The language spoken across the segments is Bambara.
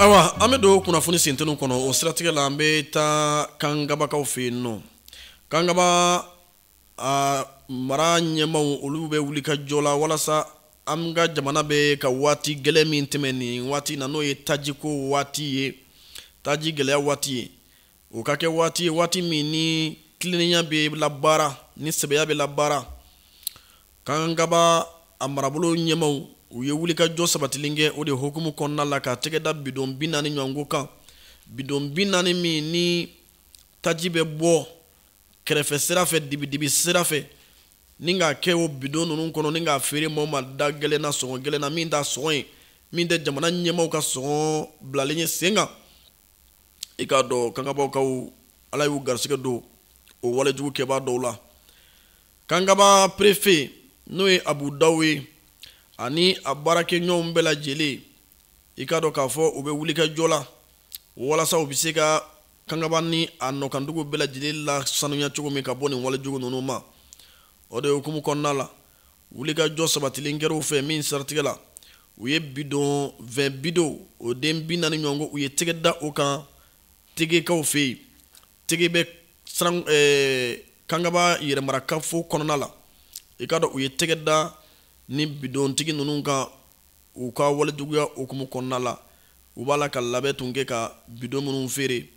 Ayiwa an bɛ don kunnafoni sint kɔnɔ o siratigɛ la an bɛ taa kangabakaw fɛ yen nɔ kanga aa mara ɲɛmaw olu bɛ wuli ka jɔ la walasa an ka jamana bɛ ka waati gɛlɛn min tɛmɛn nin waati na n'o ye tajiko waati ye taji gɛlɛya waati ye o ka kɛ waati ye waati min ni tilennenya bɛ labaara ni sɛbɛya bɛ labaara kangaba a marabolo ɲɛmaw u ye wuli ka jɔ sabatilen kɛ o de hukumu kɔnɔna la ka tɛgɛ da bidon bi naani ɲɔgɔnko kan bidon bi naani min ni taji bɛ bɔ kɛrɛfɛ sira fɛ dibidibi sira fɛ ni k'a kɛ o bidon ninnu kɔnɔ ni k'a feere maaw ma da gɛlɛn na sɔngɔ gɛlɛn na min t'a sɔngɔ ye min tɛ jamana ɲɛmaaw ka sɔngɔ bilalen ye sen kan i k'a dɔn kangabakaw ala y'u garisigɛ don o walejugu kɛbaa dɔw la kangaba perefe n'o ye abu daw ye ani a baarakɛɲɔgɔnw bɛɛ lajɛlen i k'a dɔn k'a fɔ u bɛ wulikajɔ la walasa u bɛ se ka kangaba ni a nɔkandugu bɛɛ lajɛlen lasanuya cogo min ka bɔ nin walejugu ninnu ma o de hukumu kɔnɔna la wulikajɔ sabatilen kɛr'u fɛ min siratigɛ la u ye bidon vɛn bidon o den bi naani ɲɔgɔn ko u ye tɛgɛ da o kan tegekaw fɛ yen tege bɛ siran eh, kangaba yɛrɛmarakafo kɔnɔna la i k'a dɔn u ye tɛgɛ da ni bidontigi ninnu kan U ka walejuguya hukumu kɔnɔna la, u b'a la ka labɛn tun kɛ ka bidon minnu feere,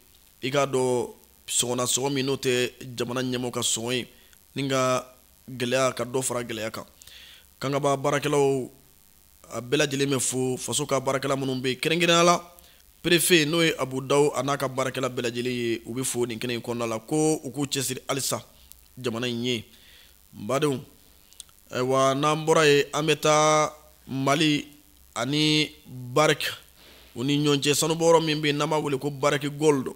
i k'a dɔn sɔngɔ na sɔngɔ min n'o tɛ jamana ɲɛmɔgɔ ka sɔngɔ ye, ni ka gɛlɛya ka dɔ fara gɛlɛya kan. Kangaba baarakɛlaw, a bɛɛ lajɛlen bɛ fo, faso ka baarakɛla minnu bɛ yen, kɛrɛnkɛrɛnnenya la perefe n'o ye Abu Dawu a n'a ka baarakɛla bɛɛ lajɛlen ye, u bɛ fo nin kɛnɛ in kɔnɔna la ko u k'u cɛsiri halisa jamana in ye. badenw ayiwa n'an bɔra yen an bɛ taa mali ani bariki u ni ɲɔgɔn cɛ sanubɔyɔrɔ min bɛ yen n'an b'a wele ko bariki gold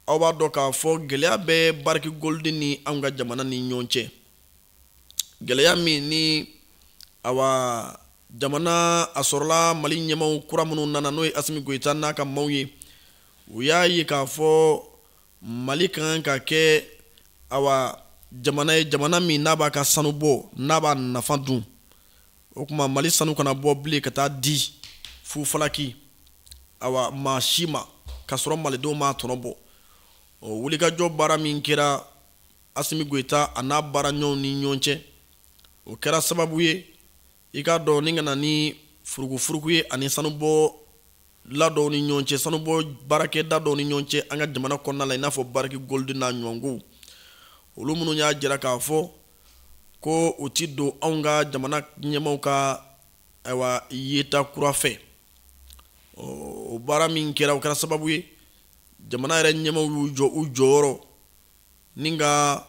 aw b'a dɔn k'a fɔ gɛlɛya bɛ bariki gold ni anw ka jamana ni ɲɔgɔn cɛ gɛlɛya min ni awa jamana a sɔrɔla mali ɲɛmaw kura minnu nana n'o ye asimi goyita n'a ka maaw ye u y'a ye k'a fɔ mali ka kan ka kɛ awa jamana ye jamana min n'a b'a ka sanu bɔ n'a b'a nafa dun o tuma mali sanu kana bɔ bilen ka taa di fufalaki awa maa si ma k'a sɔrɔ malidenw m'a tɔnɔ bɔ o wulikajɔ baara min kɛra asimi goyita a n'a baaraɲɔgɔnw ni ɲɔgɔn cɛ o kɛra sababu ye i k'a dɔn ni ka na ni furukufuruku ye an ni sanubɔla dɔw ni ɲɔgɔn cɛ sanubɔ baarakɛda dɔw ni ɲɔgɔn cɛ an ka jamana kɔnɔna la i n'a fɔ bariki golidi n'a ɲɔgɔnkow olu minnu y'a jira k'a fɔ ko u ti don anw ka jamana ɲɛmaw ka ayiwa yeta kura fɛ o baara min kɛra o kɛra sababu ye jamana yɛrɛ ɲɛmaw y'u jɔ u jɔyɔrɔ ni ka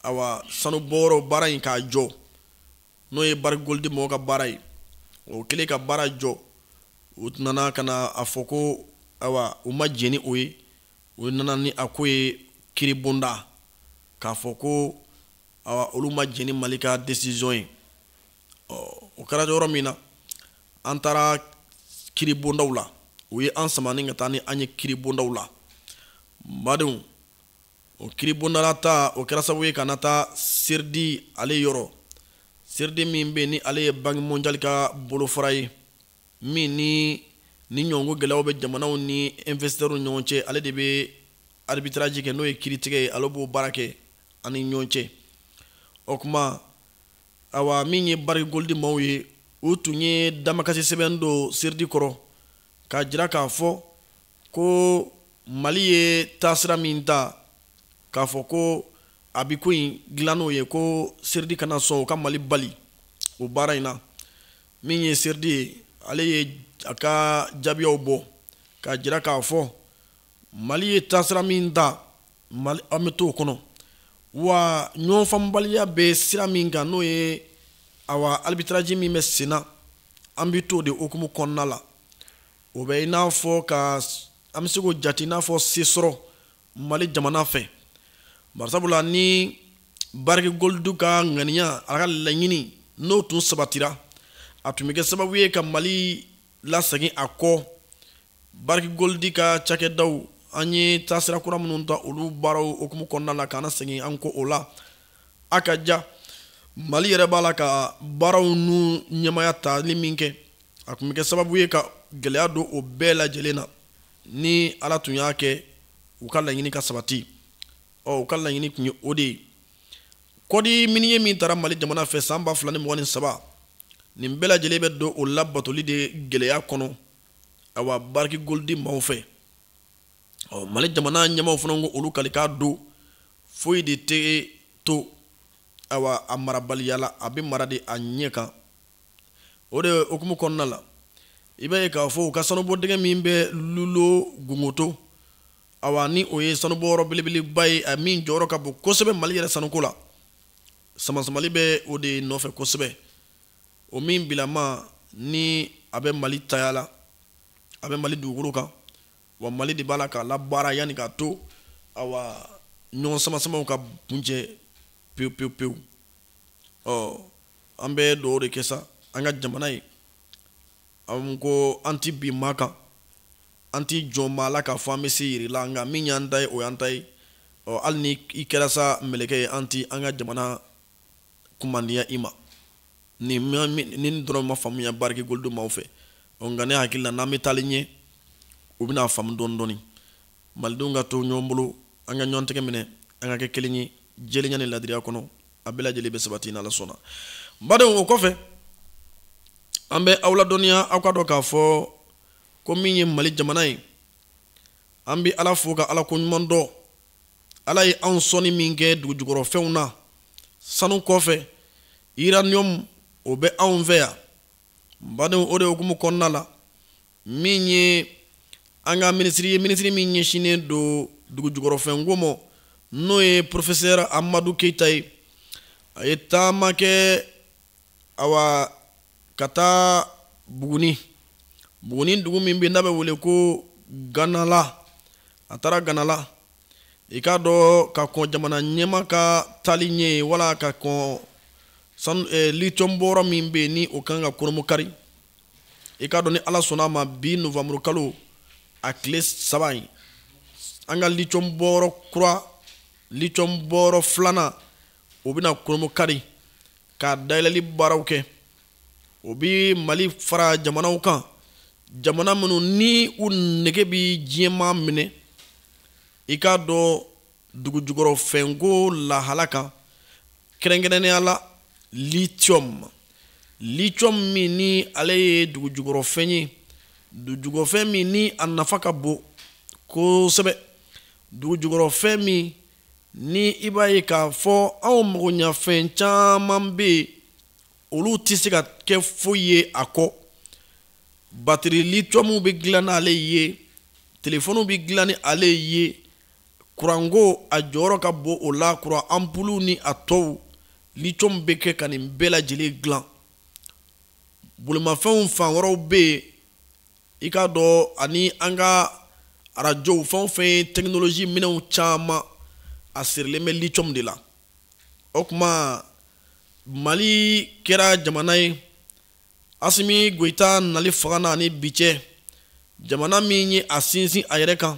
ayiwa sanubɔyɔrɔ baara in k'a jɔ n'o ye barikigolidi mɔgɔw ka baara ye o kɛlen ka baara jɔ u nana ka na a fɔ ko ayiwa u ma jɛn ni o ye u nana ni a ko ye kiribonda k'a fɔ ko ayiwa olu ma jɛn ni mali ka desizɔn ye ɔ o kɛra yɔrɔ min na an taara kiribondaw la u ye an sama ni ka taa ni an ye kiribondaw la badenw o kiribonda la taa o kɛra sababu ye ka na taa seridi ale yɔrɔ seridi min bɛ ni ale ye banque mondiale ka bolofara ye min ni nin ɲɔgɔn ko gɛlɛyaw bɛ jamanaw ni investisseurs ɲɔgɔn cɛ ale de bɛ arbitrage kɛ n'o ye kiritigɛ ye ale b'o baara kɛ an ni ɲɔgɔn cɛ o kuma awa min ye bariki golidi maaw ye u tun ye damakasi sɛbɛn don seridi kɔrɔ k'a jira k'a fɔ ko mali ye taasira min ta k'a fɔ ko a bi ko in dilan n'o ye ko seridi kana sɔn u ka mali bali o baara in na min ye seridi ye ale ye a ka jaabiyaw bɔ k'a jira k'a fɔ mali ye taasira min ta mali an bɛ t'o kɔnɔ wa ɲɔgɔnfaamubaliya bɛ sira min kan n'o ye awa arbitraji min bɛ sen na an bɛ t'o de hukumu kɔnɔna la o bɛ i n'a fɔ ka an bɛ se k'o jate i n'a fɔ sesɔrɔ mali jamana fɛ barisabula ni bariki golidi ka ŋaniya a ka laɲini n'o tun sabatira a tun bɛ kɛ sababu ye ka mali lasegin a kɔ bariki golidi ka cakɛdaw an ye taasira kura minnu ta olu baaraw hukumu kɔnɔna la k'an nasegin an kɔ o la a ka ja mali yɛrɛ b'a la ka baaraw n'u ɲɛmaya tali min kɛ a kun bɛ kɛ sababu ye ka gɛlɛya don o bɛɛ lajɛlen na ni ala tun y'a kɛ u ka laɲini ka sabati ɔ u ka laɲini tun ye o de ye kɔdi miniye min tara mali jamana fɛ san ba fila ni mugan ni saba nin bɛɛ lajɛlen bɛ don o labatoli de gɛlɛya kɔnɔ awa bariki golidi maaw fɛ ɔ mali jamana ɲɛmaaw fana ko olu kalikan don foyi de tɛ to awa a marabaliya la a bɛ mara de a ɲɛ kan o de hukumu kɔnɔna la i b'a ye k'a fɔ u ka sanubɔ dingɛ min bɛ lulo gunkoto awa ni o ye sanubɔyɔrɔ belebeleba ye a min jɔyɔrɔ ka bon kosɛbɛ mali yɛrɛ sanuko la samasamali bɛ o de nɔfɛ kosɛbɛ o min bilama ni a bɛ mali taya la a bɛ mali dugukolo kan wa mali de b'a la k'a labaara yanni k'a to awa ɲɔgɔn samasamaw ka kuncɛ pewu pewu pewu ɔ an bɛ dugawu de kɛ sa an ka jamana ye an ko an ti bin maa kan an ti jɔn maa la k'a fɔ an bɛ se yira i la nka min y'an ta ye o y'an ta ye ɔ hali ni i kɛra sa mɛlɛkɛ ye an ti an ka jamana kumandiya i ma nin dɔrɔn ma faamuya bariki goldo maaw fɛ nka ne hakili la n'an bɛ taali ɲɛ u bɛna faamu dɔɔni dɔɔni malidenw ka to ɲɔgɔn bolo an ka ɲɔgɔn tɛgɛ minɛ an ka kɛ kelen ye jɛlenya ni laadiriya kɔnɔ a bɛɛ lajɛlen bɛ sabati n'ala sɔnna badenw o kɔfɛ an bɛ aw ladɔnniya aw ka dɔn k'a fɔ ko min ye mali jamana ye an bɛ ala fo ka ala ko ɲuman dɔn ala ye anw sɔnni min kɛ dugujukɔrɔfɛnw na sanu kɔfɛ uranium o bɛ anw fɛ yan badenw o de hukumu kɔnɔna la min ye an ka minisiri ye minisiri min ɲɛsinnen don dugujukɔrɔfɛnko ma n'o ye porofesɛri amadu keyita ye a ye taama kɛ awa ka taa buguni buguni dugu min bɛ n'a bɛ wele ko ganala a taara ganala i k'a dɔn ka kɔn jamana ɲɛmaa ka taali ɲɛ yen wala ka kɔn eh, litiyɔn bɔyɔrɔ min bɛ yen ni o kan ka kurunbonkari i k'a dɔn ni ala sɔnna a ma bi novanburu kalo a tile saba in an ka litiyɔn bɔyɔrɔ kura litiyɔn bɔyɔrɔ filanan o bɛna kurunbonkari ka dayɛlɛli baaraw kɛ o bi mali fara jamanaw kan jamana minnu ni u nege bɛ diɲɛmaa minɛ i k'a dɔn dugujukɔrɔfɛnko lahala kan kɛrɛnkɛrɛnnenya la lithium lithium min ni ale ye dugujukɔrɔfɛn ye dugujukɔrɔfɛn min ni a nafa ka bon kosɛbɛ dugujukɔrɔfɛn min ni i b'a ye k'a fɔ anw magoɲɛfɛn caman bɛ yen olu tɛ se ka kɛ foyi ye a kɔ batiri litiyɔmu bɛ dilan n'ale ye telefɔniw bɛ dilan ni ale ye kuranko a jɔyɔrɔ ka bon o la kuran anpulu ni a tɔw litiyɔmu bɛ kɛ ka nin bɛɛ lajɛlen dilan bolimafɛnw fan wɛrɛw bɛ yen i k'a dɔn ani an ka arajow fɛn o fɛn ye tɛkinoloji minɛnw caman a sirilen bɛ lithium de la o tuma mali kɛra jamana ye asimi goyita nali fanga na ani bi cɛ jamana min ye a sinsin a yɛrɛ kan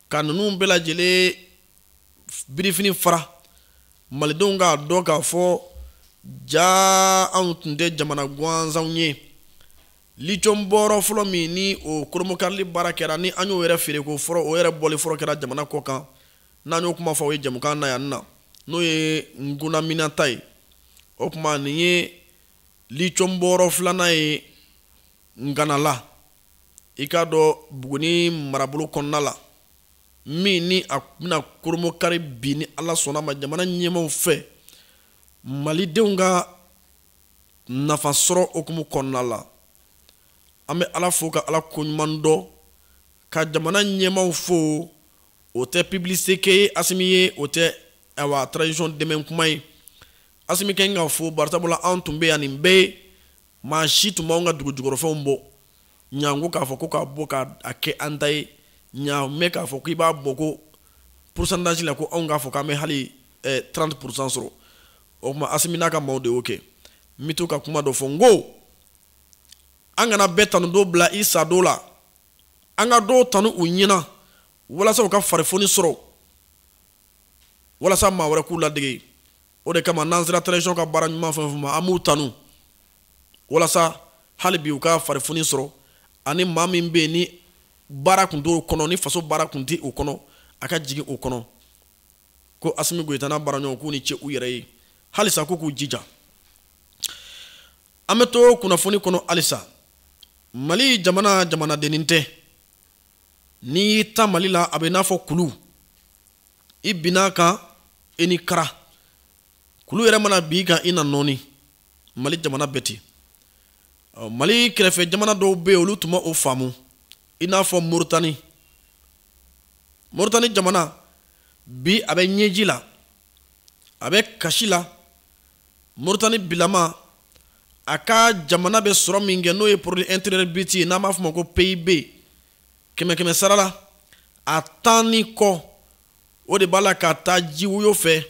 ka ninnu bɛɛ lajɛlen birifini fara malidenw k'a dɔn k'a fɔ ja anw tun tɛ jamana gansanw ye lithium bɔyɔrɔ fɔlɔ min ni o kurunbonkarili baara kɛra ni an y'o yɛrɛ feereko fɔlɔ o yɛrɛ bɔli fɔlɔ kɛra jamana kɔ kan n'an y'o kuma fɔ o ye jɛmukan na yan na n'o ye gulamina ta ye o tuma nin ye lithium bɔyɔrɔ filanan ye nganala i k'a dɔn buguni marabolo kɔnɔna la min ni a bɛna kurunbonkari bi ni ala sɔnna ma jamana ɲɛmaw fɛ malidenw ka nafa sɔrɔ hukumu kɔnɔna la an bɛ ala fo ka ala ko ɲuman dɔn ka jamana ɲɛmaw fo o tɛ publicité kɛ ye asimi ye o tɛ awa transition dɛmɛ kuma ye asimi kɛ ka fo barisa mun na an tun bɛ yan nin bɛɛ ye maa si tun b'an ka dugujukɔrɔfɛnw bɔ janko k'a fɔ ko k'a bɔ k'a kɛ an ta ye ɲa mɛn k'a fɔ k'i b'a bɔ ko pourcentage la ko anw k'a fɔ k'an bɛ hali trente pour cent sɔrɔ o tuma asimi n'a ka maaw de y'o kɛ n bɛ to ka kuma dɔ fɔ n ko an kana bɛɛ tanudon bila i sadon la an ka dɔw tanu u ɲɛna walasa u ka farifoni sɔrɔ walasa maa wɛrɛ k'u ladege o de kama n'an sera transition ka baara ɲuman fɛn o fɛn ma an b'u tanu walasa hali bi u ka farifoni sɔrɔ ani maa min bɛ yen ni baara kun t'o kɔnɔ ni faso baara kun tɛ o kɔnɔ a ka jigin o kɔnɔ ko asimi goyita n'a baaraɲɔgɔn k'u ni ce u yɛrɛ ye halisa ko k'u jija an bɛ to kunnafoni kɔnɔ halisa mali jamana jamanadennin tɛ n'i y'i ta mali la a bɛ n'a fɔ kulu i binna kan i ni kara kulu yɛrɛ mana bin i kan i na nɔɔni mali jamana bɛ ten mali kɛrɛfɛ jamana dɔw bɛ yen olu tun ma o faamu i n'a fɔ moritani moritani jamana bi a bɛ ɲɛji la a bɛ kasi la moritani bilama a ka jamana bɛ sɔrɔ min kɛ n'o ye produit intérieur brut ye n'an b'a fɔ a ma ko pib kɛmɛ kɛmɛ sara la a tan ni kɔ o de b'a la ka taa jiwoyo fɛ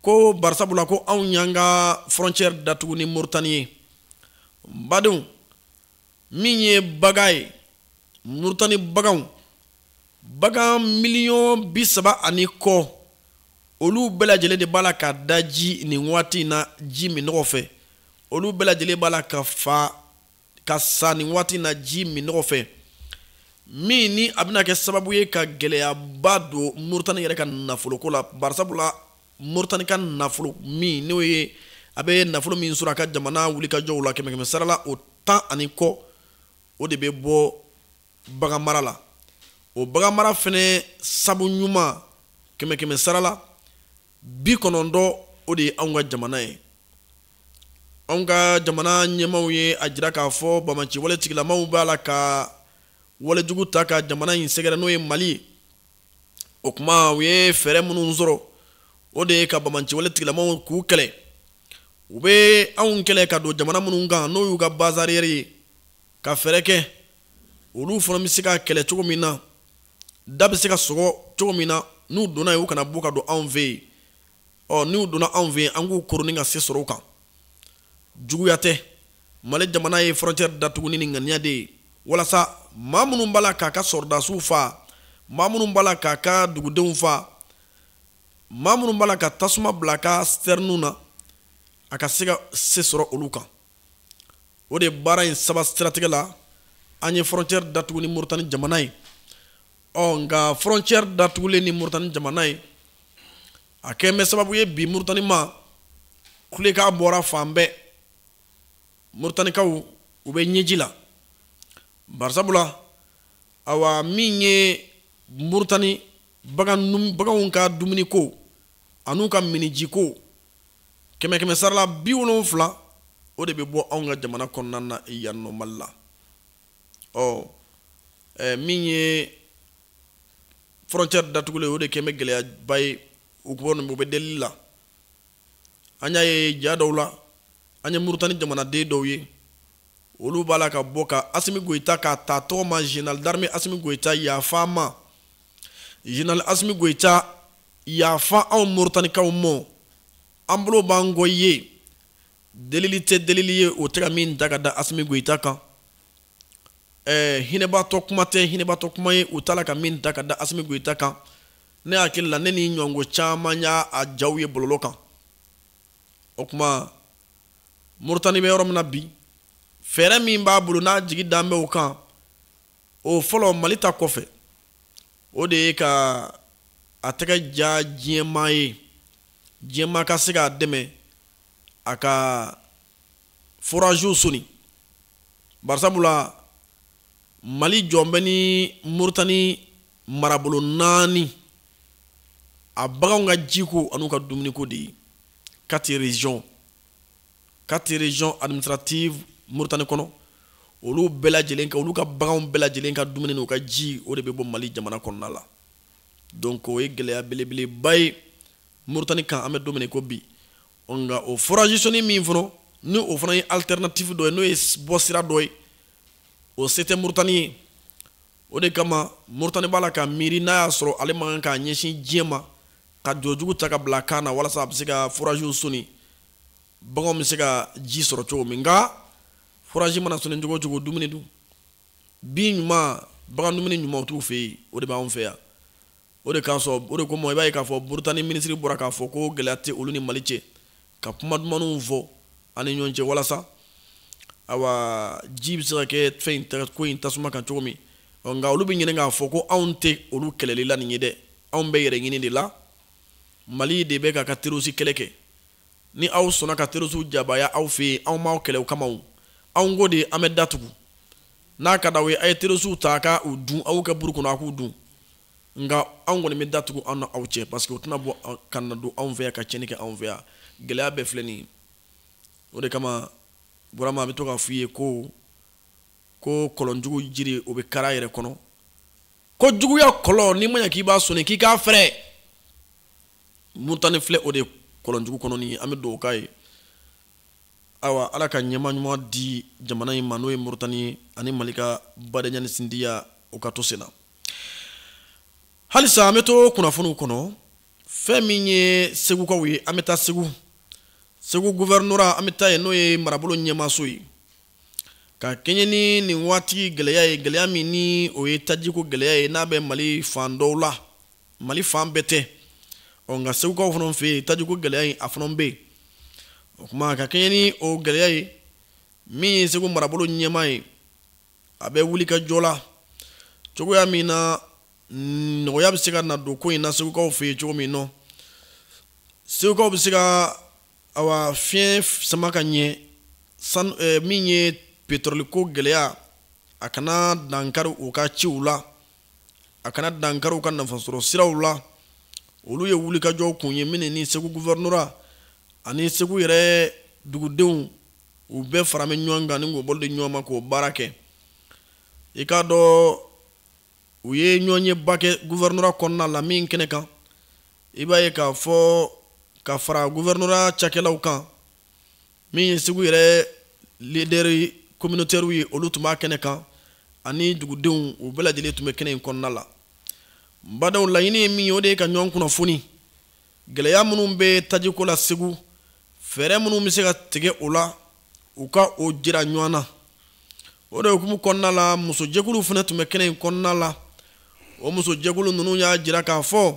ko barisa mun na ko anw y'an ka frontière datugu ni moritani ye badenw min ye bagan ye murutani baganw bagan miliyɔn bi saba ani kɔ olu bɛɛ lajɛlen de b'a la ka daji nin waati in na ji minnɔgɔ fɛ olu bɛɛ lajɛlen b'a la ka fa ka sa nin waati in na ji minnɔgɔ fɛ min ni a bɛna kɛ sababu ye ka gɛlɛyaba don muritani yɛrɛ ka nafoloko la barisabula moritani ka nafolo min n'o ye a bɛ nafolo min sɔrɔ a ka jamana wulikajɔw la kɛmɛkɛmɛ sarala o tan ani kɔ o de bɛ bɔ bagan mara la o bagan mara fɛnɛ sabu ɲuman kɛmɛkɛmɛ sarala bi kɔnɔntɔn o de ye anw ka jamana ye anw ka jamana ɲɛmaaw ye a jira k'a fɔ banbaanciwale tigilamaw b'a la ka walejugu ta ka jamana in sɛgɛrɛ n'o ye mali ye o kuma u ye fɛɛrɛ minnu sɔrɔ o de ye ka banbaanciwale tigilamaw k'u kɛlɛ u bɛ anw kɛlɛ ka don jamana minnu kan n'o y'u ka base arrière ye ka fɛɛrɛ kɛ olu fana bɛ se ka kɛlɛ cogo min na da bɛ se ka sɔgɔ cogo min na n'u donna yen u kana bɔ ka don anw fɛ yen ɔ n'u donna anw fɛ yen an k'u koroni ka se sɔrɔ u kan juguya tɛ mali jamana ye frontière datugu ni ŋaniya de ye walasa maa minnu b'a la k'a ka sɔrɔdasiw fa maa minnu b'a la k'a ka dugudenw fa maa minnu b'a la ka tasuma bila a ka sitɛriniw na a ka se ka se sɔrɔ olu kan o de baara in saba siratigɛ la an ye frontière datugu ni moritani jamana ye ɔ nka frontière datugulen ni murutani jamana ye a kɛn bɛ sababu ye bi murutani ma kulekan bɔra fan bɛɛ murutanikaw u bɛ ɲɛji la barisabula awa min ye murutani baganw ka dumuniko an'u ka minijiko kɛmɛ kɛmɛ sarala bi wolonwula o de bɛ bɔ anw ka jamana kɔnɔna na yan nɔ mali la ɔ ɛ min ye frontière datugulen o de kɛn bɛ gɛlɛyaba ye u ko u bɛ delili la an y'a ye ja dɔw la an ye murutani jamanaden dɔw ye olu b'a la ka bɔ ka asimi goyita k'a ta tɔgɔ ma général d'armée asimi goyita yafa an ma général asimi goyita yafa anw moritanikaw ma an bolo b'an kɔ ye Delili tɛ delili ye u ta ka min da ka da asimi goyita kan ɛɛ hinɛbatɔ kuma tɛ hinɛbatɔ kuma ye u ta ka min da ka da asimi goyita kan ne hakili la ne ni ɲɔgɔn caman y'a jaw ye bɔlɔlɔ kan o kuma moritani bɛ yɔrɔ min na bi fɛɛrɛ min b'a bolo n'a jigi dan bɛ kan o fɔlɔ mali ta kɔfɛ o de ye ka a tɛgɛ ja diɲɛmaa ye diɲɛmaa ka se k'a dɛmɛ a ka foraziw soni barisabula mali jɔlen bɛ ni moritani marabolo naani a baganw ka jiko an'u ka dumuniko de ye quatre régions quatre régions administratives moritani kɔnɔ olu bɛɛ lajɛlen ka olu ka baganw bɛɛ lajɛlen ka dumuni n'u ka ji o de bɛ bɔ mali jamana kɔnɔna la donc o ye gɛlɛya belebeleba ye Mauritanie kan an bɛ don min na i ko bi nka o forage soni min fana ni o fana ye alternative dɔ ye n'o ye bɔ sira dɔ ye o se tɛ Mauritanie ye o de kama Mauritanie b'a la ka miiri n'a y'a sɔrɔ ale man kan k'a ɲɛsin diɲɛ ma ka jɔ jugu ta ka bila kan na walasa a bɛ se ka foragew soni baganw bɛ se ka ji sɔrɔ cogo min nka forage mana soni cogo o cogo dumuni dun bin ɲuman bagan dumuni ɲuman t'u fɛ yen o de b'anw fɛ yan O de kosɔn o de kama i b'a ye k'a fɔ murutani minisiri bɔra k'a fɔ ko gɛlɛya tɛ olu ni mali cɛ ka kuma dumanw fɔ an ni ɲɔgɔn cɛ walasa ayiwa ji bɛ se ka kɛ fɛn in ko in tasuma kan cogo min nka olu bɛ ɲinɛ k'a fɔ ko anw tɛ olu kɛlɛli la nin ye dɛ anw bɛ yɛrɛ ɲini de la mali de bɛ k'a ka terɔrisi kɛlɛ kɛ ni aw sɔnna ka terɔrisiw jabaaya aw fɛ yen anw m'aw kɛlɛ o kama anw ko de an bɛ da tugu n'a ka di aw ye a ye terɔrisiw ta k' u dun aw kɛ buru kɔnɔ a k'u dun nka anw kɔni bɛ da tugu anw ni aw cɛ parce que o tɛna bɔ ka na don anw fɛ yan ka cɛnni kɛ anw fɛ yan gɛlɛya bɛɛ filɛ nin ye o de kama burama a bɛ to k'a f'i ye ko ko kɔlɔnjugu jiri o bɛ kari a yɛrɛ kɔnɔ ko juguya kɔlɔn n'i ma ɲɛ k'i b'a sɔnni k'i k'a fɛrɛ murutani filɛ o de kɔlɔnjugu kɔnɔ nin ye an bɛ dugawu k'a ye ayiwa ala ka ɲɛmaa ɲuman di jamana in ma n'o ye murutani ye ani mali ka badenya ni sinjiya o ka to sen na halisa an bɛ to kunnafoniw kɔnɔ fɛn min ye segukaw ye an bɛ taa segu segu guvɛrinura an bɛ taa yen n'o ye marabolo ɲɛmaaso ye ka kɛɲɛ ni nin waati gɛlɛya ye gɛlɛya min ni o ye tajiko gɛlɛya ye n'a bɛ mali fan dɔw la mali fan bɛɛ tɛ ɔ nka segukaw fana fɛ yen tajiko gɛlɛya in a fana bɛ yen o tuma ka kɛɲɛ ni o gɛlɛya ye min ye segu marabolo ɲɛmaa ye a bɛ wulikajɔ la cogoya min na nɔgɔya bɛ se ka na don ko in na segukaw fɛ yen cogo min nɔ segukaw bɛ se ka awa fiɲɛ sama ka ɲɛ san eh, min ye petɔrɔliko gɛlɛya a kana dankari u ka ciw la a kana dankari u ka nafasɔrɔ siraw la olu ye wulikajɔ kun ye min ni segu guvɛrinura ani segu yɛrɛ dugudenw u bɛɛ fara bɛ ɲɔgɔn kan ni k'o bolo di ɲɔgɔn ma k'o baara kɛ i k'a dɔn u ye ɲɔgɔnyeba kɛ gouvernorat kɔnɔna la min kɛnɛ kan i b'a ye k'a fɔ ka fara gouvernorat cakɛlaw kan min ye segu yɛrɛ leader communautaire ye olu tun b'a kɛnɛ kan ani dugudenw u bɛɛ lajɛlen tun bɛ kɛnɛ in kɔnɔna la badaw laɲini ye min ye o de ye ka ɲɔgɔn kunnafoni gɛlɛya minnu bɛ tajiko la segu fɛɛrɛ minnu bɛ se ka tigɛ o la u ka o jira ɲɔgɔn na o de hukumu kɔnɔna la musojɛkuluw fana tun bɛ kɛnɛ in kɔnɔna la o musojɛkulu ninnu y'a jira k'a fɔ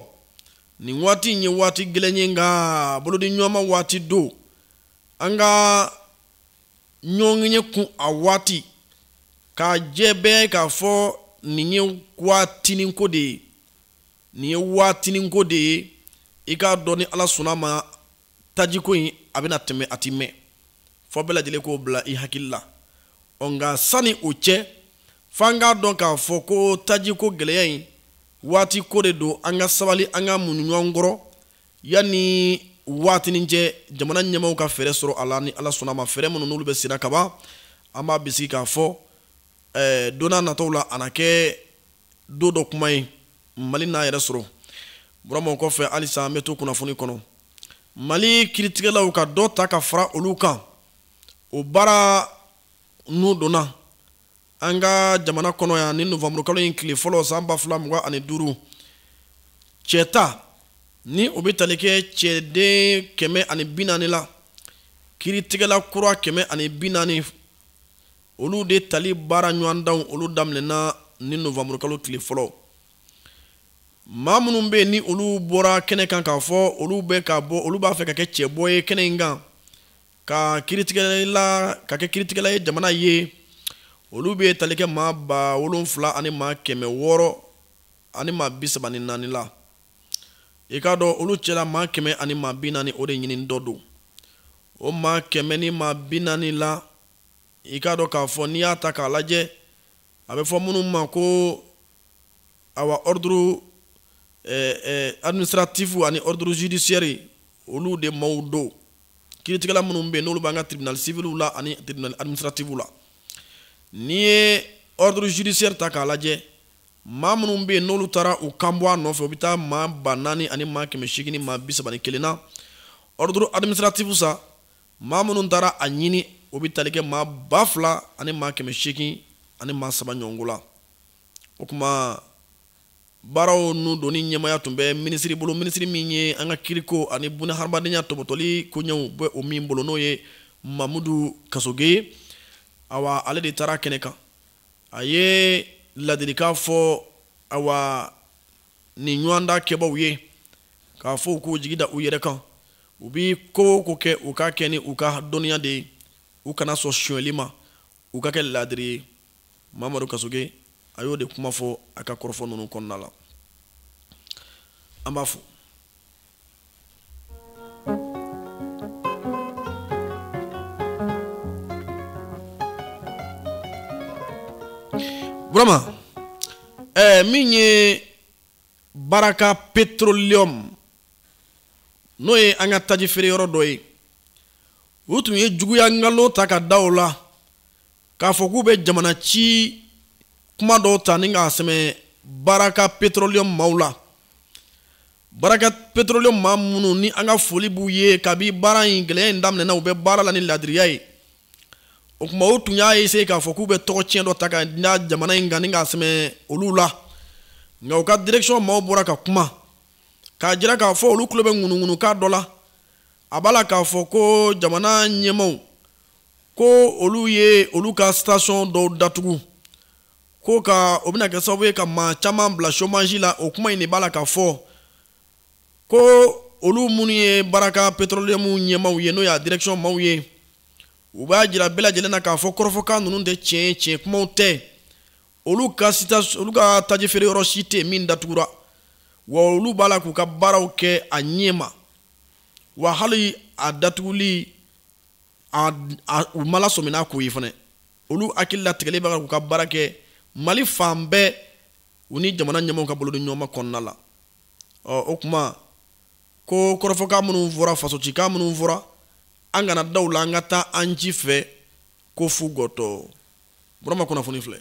nin waati in ye waati gɛlɛn ye nka bolodiɲɔgɔnma waati don an ka ɲɔgɔnye kun a waati k'a jɛ bɛɛ k'a fɔ nin ye waatinin ko de ye nin ye waatininko de ye i k'a dɔn ni ala sɔnna ma tajiko in a bɛna tɛmɛ a ti mɛn fo bɛɛ lajɛlen k'o bila i hakili la ɔ nka sani o cɛ f'an k'a dɔn k'a fɔ ko tajiko gɛlɛya in waati ko de don an ka sabali an ka muɲu ɲɔgɔn kɔrɔ yanni waatinin cɛ jamana ɲɛmaaw ka fɛɛrɛ sɔrɔ a la ni ala sɔnna ma fɛɛrɛ minnu n'olu bɛ senna kaban an b'a bisigi k'a fɔ eh, don nataw la a na kɛ don dɔ kuma ye mali n'a yɛrɛ sɔrɔ burama o kɔfɛ halisa an bɛ to kunnafoni kɔnɔ mali kiritigɛlaw ka dɔ ta ka fara olu kan o baara n'u donna an ka jamana kɔnɔ yan ni novanburukalo in tile fɔlɔ san ba fila mugan ani duuru cɛta ni o bɛ tali kɛ cɛden kɛmɛ ani bi naani la kiritigɛla kura kɛmɛ ani bi naani olu de tali baara ɲɔgɔndanw olu daminɛna ni novanburukalo tile fɔlɔ maa minnu bɛ yen ni olu bɔra kɛnɛ kan k'a fɔ olu bɛ ka bɔ olu b'a fɛ ka kɛ cɛbɔ ye kɛnɛ in kan ka kiritigɛla ka kɛ kiritigɛla ye jamana ye olu bɛ tali kɛ maa ba wolonfila ani maa kɛmɛ wɔɔrɔ ani maa bi saba ni naani la i k'a dɔn olu cɛla maa kɛmɛ ani maa bi naani o de ɲinitɔ don o maa kɛmɛ ni maa bi naani la i k'a dɔn k'a fɔ n'i y'a ta k'a lajɛ a bɛ fɔ minnu ma ko awa ordre eh, eh, administratif ani ordre judiciaire olu de maaw don kiiritigɛla minnu bɛ yen n'olu b'an ka tribunal civil la ani tribunal administratif la n'i ye ordre judiciaire ta k'a lajɛ maa minnu bɛ yen n'olu taara u kan bɔ a nɔfɛ u bɛ taa maa ba naani ani maa kɛmɛ seegin ni maa bi saba ni kelen na ordre administratif sa maa minnu taara a ɲini o bɛ tali kɛ maa ba fila ani maa kɛmɛ seegin ani maa saba ɲɔgɔn ko la o kuma baaraw n'u donni ɲɛmaaya tun bɛ minisiri bolo minisiri min ye an ka kiiriko ani buna hadamadenya tɔbɔtɔli koɲɛw bɛ o min bolo n'o ye mamudu kasoge awa ale de taara kɛnɛ kan a ye ladilikan fɔ awa nin ɲɔgɔndan kɛbaw ye k'a fɔ u k'u jigi da u yɛrɛ kan u bɛ ko o ko kɛ u k'a kɛ ni u ka dɔnniya de ye u kana sɔn sonyɛli ma u ka kɛ laadiri ye mamadu kasoge a y'o de kuma fɔ a ka kɔrɔfɔ ninnu kɔnɔna la an b'a fo min ye baraka petroleum n'o ye an ka taji feere yɔrɔ dɔ ye u tun ye juguya nkalon ta ka da u la k'a fɔ k'u bɛ jamana ci kuma dɔw ta ni k'a sɛmɛ baraka petroleum maaw la baraka petroleum maa minnu ni an ka foli b'u ye kabi baara in gɛlɛya in daminɛna u bɛ baara la ni laadiriya ye o kuma u tun y'a essayer k'a fɔ k'u bɛ tɔgɔ tiɲɛ dɔ ta ka da jamana in kan ni k'a sɛmɛ olu la nka u ka direction maaw bɔra ka kuma k'a jira k'a fɔ olu tulo bɛ ŋunuŋunukan dɔ la a b'a la k'a fɔ ko jamana ɲɛmaaw ko olu ye olu ka station dɔw datugu k'o kan o bɛna kɛ sababu ye ka maa caman bila chômage la o kuma in de b'a la k'a fɔ ko olu minnu ye baraka petroleum ɲɛmaaw ye n'o y'a direction maaw ye u b'a jira bɛɛ lajɛlen na k'a fɔ kɔrɔfɔkan ninnu tɛ tiɲɛ ye tiɲɛ kumaw tɛ olu ka sita olu ka taji feere yɔrɔ si tɛ min datugura wa olu b'a la k'u ka baaraw kɛ a ɲɛma wa hali a datuguli a, a, u ma lasɔmi n'a ko ye fana olu hakili latigɛlen b'a kan k'u ka baara kɛ mali fan bɛɛ u ni jamana ɲɛmɔgɔw ka bolo di ɲɔgɔn ma kɔnɔna la ɔ o kuma ko kɔrɔfɔkan minnu fɔra fasocikan minnu fɔra an kana da u la an ka taa an ji fɛ ko fu gɔtɔ burama kunnafoni filɛ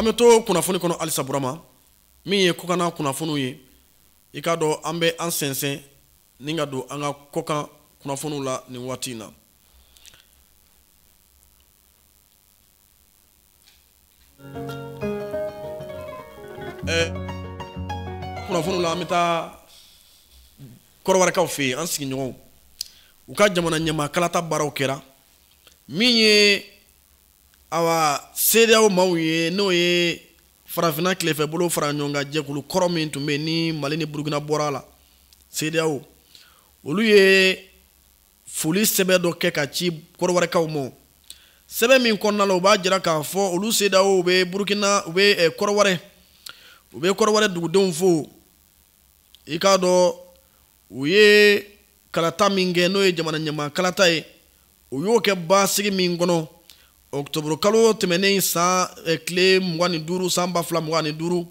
an bɛ to kunnafoni kɔnɔ halisa burama min ye kɔkanna kunnafoniw ye i k'a dɔn an bɛ an sɛnsɛn ni ka don an ka kɔkan kunnafoniw la nin waati in na Kunnafoniw la an bɛ taa kɔrɔwarikaw fɛ yen an sigiɲɔgɔnw u ka jamana ɲɛmaa kalata baaraw kɛra min ye awa CEDEAO maaw ye n'o ye farafinna tilefɛ bolo fara ɲɔgɔn kan jɛkulu kɔrɔ min tun bɛ ni mali ni burukina bɔra la CEDEAO olu ye foli sɛbɛn dɔ kɛ ka ci kɔrɔwarikaw ma sɛbɛn min kɔnɔna la u b'a jira k'a fɔ olu CEDEAO u bɛ burukina u bɛ eh, kɔrɔwari u bɛ kɔrɔwari dugudenw fo i k'a dɔn u ye kalata min kɛ n'o ye jamana ɲɛmaa kalata ye u y'o kɛ basigi min kɔnɔ octobre kalo tɛmɛnen san eh, tile mugan ni duuru san ba fila mugan ni duuru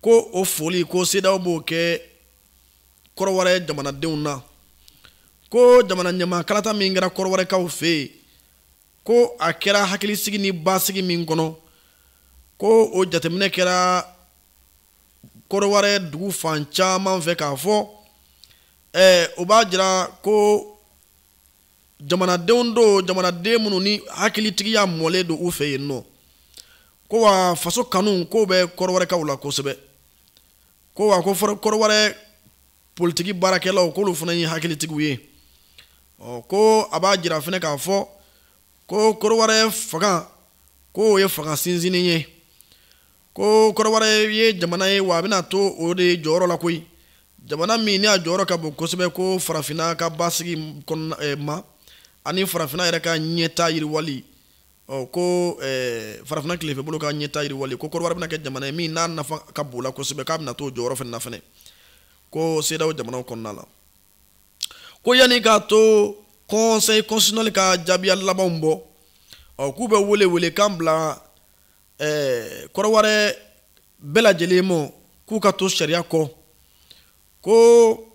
ko o foli ko CEDEAO b'o kɛ kɔrɔwari jamanadenw na ko jamana ɲɛmaa kalata min kɛra kɔrɔwarikaw fɛ yen ko a kɛra hakilisigi ni basigi min kɔnɔ ko o jateminɛ kɛra kɔrɔwari dugu fan caman fɛ k'a fɔ ɛɛ o b'a jira ko jamanadenw don jamanaden minnu ni hakilitigiya mɔlen don u fɛ yen nɔ ko wa faso kanu k'o bɛ kɔrɔwarikaw la kosɛbɛ ko wa ko kɔrɔwari politiki baarakɛlaw k'olu fana ye hakilitigiw ye ɔ ko a b'a jira fana k'a fɔ ko kɔrɔwari fanga k'o ye fanga sinsinni ye ko kɔrɔwari ye jamana ye wa a bɛna to o de jɔyɔrɔ la koyi jamana min n'a jɔyɔrɔ ka bon kosɛbɛ ko farafinna ka basigi kɔnɔna eh, ma ani farafinna yɛrɛ ka ɲɛta yiriwali ɔ ko ɛɛ farafina tilefɛ bolo ka ɲɛta yiriwali ko kɔrɔwari bɛna kɛ jamana ye min n'a nafa ka bon la kosɛbɛ k'a bɛna t'o jɔyɔrɔ fana na fana ko CEDEAO jamanaw kɔnɔna la ko yanni k'a to conseil constitutionnel ka jaabiya labanw bɔ ɔ k'u bɛ wele welekan bila ɛɛ kɔrɔwari bɛɛ lajɛlen ma k'u ka to sariya kɔ ko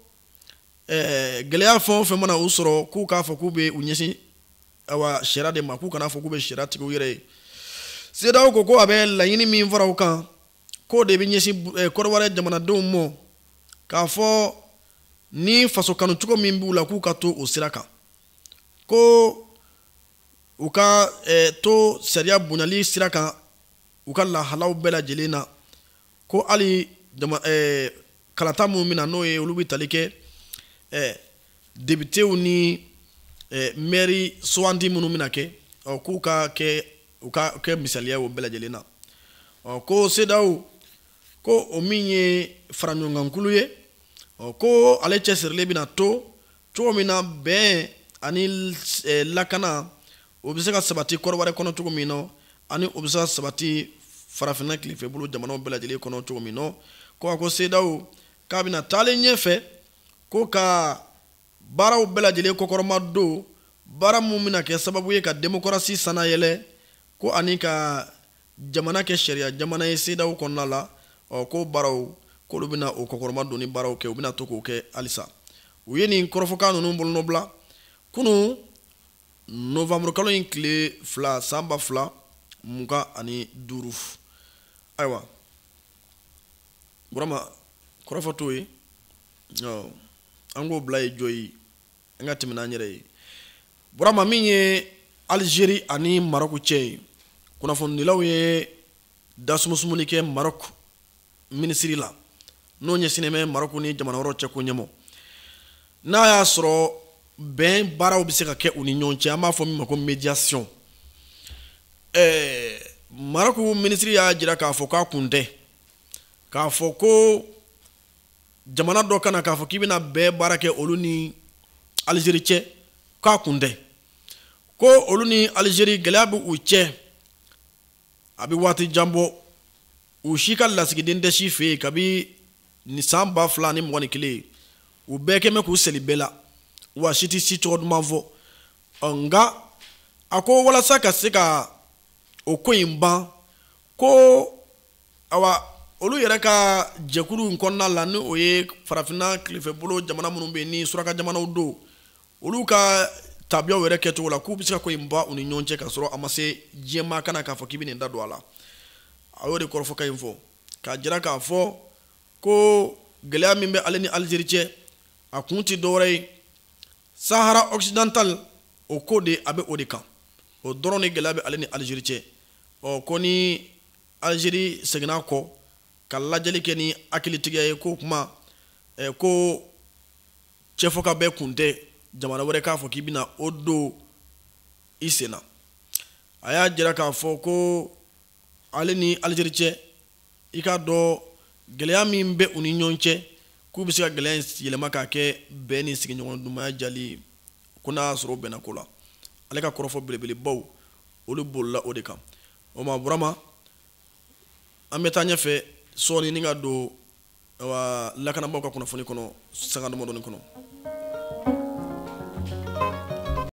eh, gɛlɛya fɛn o fɛn mana u sɔrɔ k'u k'a fɔ k'u bɛ u ɲɛsin awa sariya de ma k'u kana fɔ k'u bɛ sariya tigɛ u yɛrɛ ye CEDEAO ko ko a bɛ laɲini min fara u kan k'o de bɛ ɲɛsin eh, kɔrɔwari jamanadenw mɔ k'a fɔ ni faso kanu cogo min b'u la k'u ka to o sira kan ko u ka eh, to sariya bonyali sira kan u ka lahalaw bɛɛ lajɛlen na ko hali kalata minnu bɛ na n'o ye olu bɛ tali kɛ depitew ni mɛri sugandi minnu bɛna kɛ k'u ka kɛ u ka kɛ misaliya o bɛɛ lajɛlen na ɔ ko CEDEAO ko o min ye faraɲɔgɔnkankulu ye ɔ ko ale cɛsirilen bɛna to cogo min na bɛn ani eh, lakana o bɛ se ka sabati kɔrɔwari kɔnɔ cogo min na ani o bɛ se ka sabati farafinna tilefɛbolo jamanaw bɛɛ lajɛlen kɔnɔ cogo min na ko a ko sedaw k'a bɛna taalen ɲɛfɛ ko ka baaraw bɛɛ lajɛlen kɔkɔrɔma don baara min bɛna kɛ sababu ye ka demokarasi sannayɛlɛn ko ani ka jamana kɛ sariya jamana ye sedaw kɔnɔna la ɔ ko baaraw k'olu bɛna o kɔkɔrɔma donni baaraw kɛ u bɛna to k'o kɛ halisa u ye nin kɔrɔfɔkan ninnu bolonɔbila kunun novembre kalo in tile fila san ba fila mugan ani duuru ayiwa burama kɔrɔfɔ t'o ye an k'o bila yen jɔ yen an ka tɛmɛ n'an yɛrɛ ye burama min ye alizeri ani marɔku cɛ ye kunnafonidilaw ye dasumusumuni kɛ marɔku minisiri la n'o ɲɛsinnen bɛ marɔku ni jamana wɛrɛw cɛko ɲɛmɔ n'a y'a sɔrɔ bɛn baaraw bɛ se ka kɛ u ni ɲɔgɔn cɛ an b'a fɔ min ma ko médiation ɛɛ marɔku minisiri y'a jira k'a fɔ k'a kun tɛ k'a fɔ ko jamana dɔ ka na k'a fɔ k'i bɛna bɛn baara kɛ olu ni alizeri cɛ k'a kun tɛ ko olu ni alizeri gɛlɛya bɛ u cɛ a bɛ waati jan bɔ u si ka lasigiden tɛ si fɛ yen kabini san ba fila ni mugan ni kelen u bɛɛ kɛlen bɛ k'u seli bɛɛ la wa si tɛ si tɔgɔ duman fɔ nka a ko walasa ka se ka o ko in ban ko awa olu yɛrɛ ka jɛkulu in kɔnɔna la ni o ye farafinna tilefɛbolo jamana minnu bɛ ni suraka jamanaw don olu ka tabiyaw yɛrɛ kɛcogo la k'u bɛ se ka ko in ban u ni ɲɔgɔn cɛ ka sɔrɔ a ma se diɲɛmaa ka na k'a fɔ k'i bɛ n'i da don a la a y'o de kɔrɔfɔkan in fɔ k'a jira k'a fɔ ko gɛlɛya min bɛ ale ni alizeri cɛ a kun tɛ dɔwɛrɛ ye sahara occidental o ko de a bɛ o de kan o dɔrɔn de gɛlɛya bɛ ale ni alizeri cɛ ɔ ko ni Algérie seginna kɔ ka lajɛli kɛ ni hakilitigiya ye ko kuma eh, ko cɛ fokabɛn kun tɛ jamana wɛrɛ k'a fɔ k'i bɛna o don i sen na a y'a jira k'a fɔ ko ale ni Algérie cɛ i k'a dɔn gɛlɛya min bɛ u ni ɲɔgɔn cɛ k'u bɛ se ka gɛlɛya in yɛlɛma k'a kɛ bɛn ni sigiɲɔgɔn dumaya jali ye ko n'a y'a sɔrɔ o bɛnna ko la ale ka kɔrɔfɔ belebelebaw olu bolila o de kan o ma burama an bɛ taa ɲɛfɛ sɔɔninin ka don lakanabagaw ka kunnafoni kɔnɔ sanga damadɔni kɔnɔ